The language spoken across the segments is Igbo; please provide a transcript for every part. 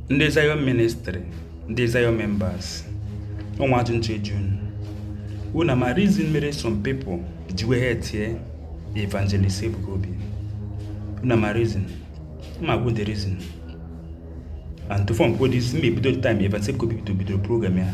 ndị Zion ministry ndị Zion members o nwe ajụjụ m chọ ịjụ unu unu a ma reason mere some people ji wee hatie evangelist Ebuka Obi unu a ma reason m ma-ekwu the reason and before m kwuo this m ma-ebido the time evangelist Ebuka Obi bido bidoro program ya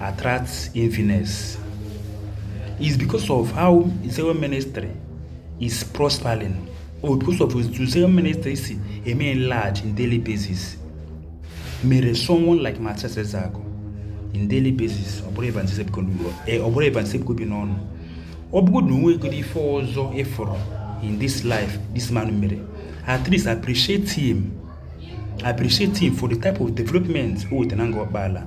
attracts infidels is because of how Zion ministry is prospering or because of etu Zion ministry si eme enlarge in daily basis mere someone like Matthias Ezeaku in daily basis o buru evangelist Ebuka Obi n'ọnụ ọ bụgodu na o nwegodi ife ọzọ ị fụrọ in this life this man mere at least appreciate him appreciate him for the type of development o wetara na Ngor Okpala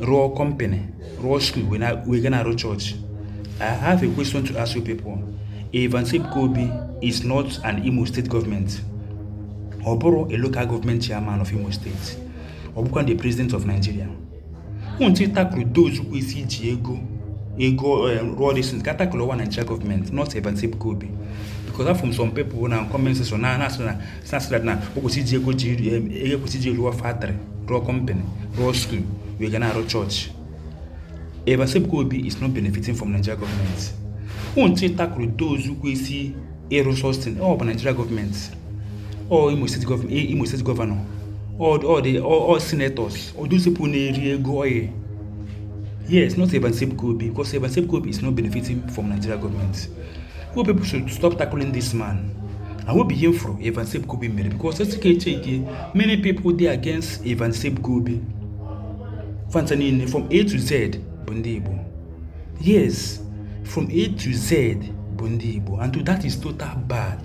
rụọ company rụọ school wee ga na-arụ church I have a question to ask you people Evangelist Ebuka Obi is not an Imo State government ọ bụrọ a local government chairman of Imo State ọ bụkwa the president of Nigeria unu should tackle those kwesị iji ego ego eh, rụọ this thing ka tackle ọ bụ Nigeria government not Evangelist Ebuka Obi because afụ m some people na comment section na-asị na section na o kwesị iji ego ji ego kwesị iji rụọ factory rụọ company rụọ school wee ga na-arụ church Evangelist Ebuka Obi is not benefiting from Nigeria government unu should tackle those kwesị ịrụ such thing ọ bụ Nigeria government ọ Imo State governor ọ senators ọ those people na-eri ego oil Yes, not Evangelist Ebuka Obi, because Evangelist Ebuka Obi is not benefiting from Nigeria government. you people should stop tackling this man I hope ihe m fụrụ Evangelist Ebuka Obi mere because e sị ka e checkie many people dị against Evangelist Ebuka Obi fa ncha niile from A to Z bụ ndị Igbo yes from A to Z bụ ndị Igbo and that is total bad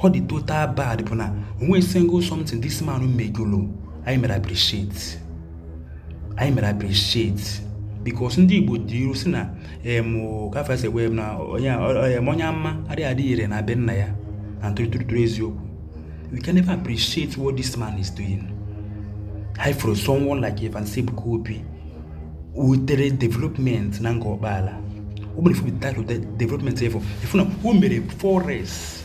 ọ dị total bad bụ na o nweghị single something this man megolo anyị mere appreciate anyị mere appreciate because ndị Igbo tụrụ ilu sị na em ka fa si ekwu na onye a- ọ- ọ- em, onye amụma adịghị adị ire na be nna ya and true true true eziokwu we can never appreciate what this man is doing anyị fụrụ someone like Evangelist Ebuka Obi wetere development na Ngor Okpala o mere ifu without the development efu ifu na o mere forest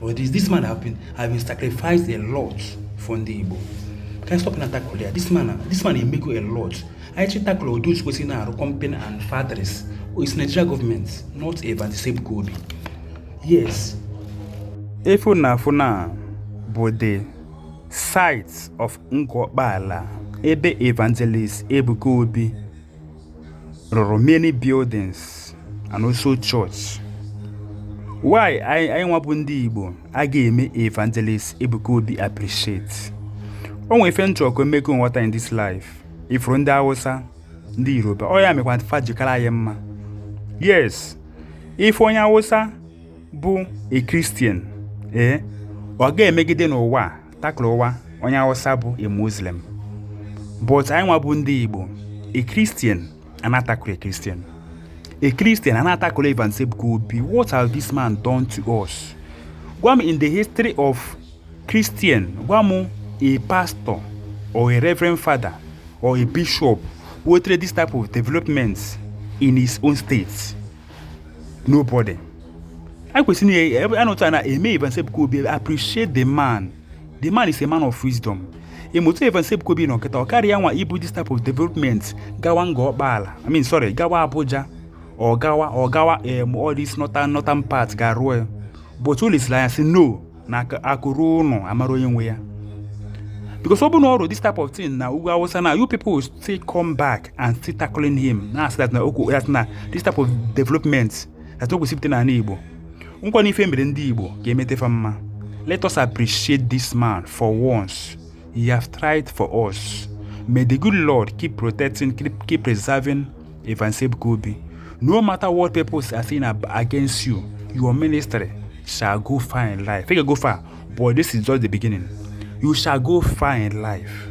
But this, this man have been, have been sacrificed a lot for ndị Igbo. Ka anyị stop na-atackle ya. This man, this man emego a lot. Anyị should tackle those kwesịrị na-arụ company and factories. It's Nigeria government, not evangelist Ebuka Obi. Yes. Ife ị na-afụ now bụ the site of Ngor Okpala ebe evangelist Ebuka Obi rụrụ many buildings and also church why anyị nwa bụ ndị igbo a ga-eme evangelist ebuka obi appreciate o nwere ife m chọ ka m mee ka unu ghọta in this life ị fụrụ ndị hausa ndị yoruba ọ ya mekwa fa ji kara anyị mma yes ị fụ onye hausa bụ a christian ee eh, ọ ga-emegide n'ụwa Tacklewa onye Hausa bụ a Muslim but anyị nwa bụ ndị Igbo a Christian ana-atackle a Christian a Christian ana-atackle Evans Ebuka Obi what has this man done to us gwa m in the history of Christian gwa m a pastor or a reverend father or a bishop wetere this type of developments in his own state nobody e kwesịrị na eh, anụta na-eme Evans Ebuka Obi appreciate the man the man is a man of wisdom ịmụta Evans Ebuka Obi nọ kịta ọ karịa nwa ibu this type of development gawa Ngor Okpala I mean sorry gawa Abuja ọ gawa ọ gawa em all this northern northern part ga rụọ ya but o lesiri anya sị no na akụ ruo ụnọ a mara onye nwe ya because ọ bụ na ọ rụ this type of thing na ugwu awụsa na you people still come back and still tackling him na-asị that na okwu that na this type of development that o kwesị ịpụta n'ala igbo nkwa na ife mere ndị igbo ga-emeta fa mma let us appreciate this man for once he have tried for us may the good lord keep protecting keep, keep preserving Evans Ebuka Obi no matter what people are saying ab- against you your ministry shall go far in life ị ga-go far but this is just the beginning you shall go far in life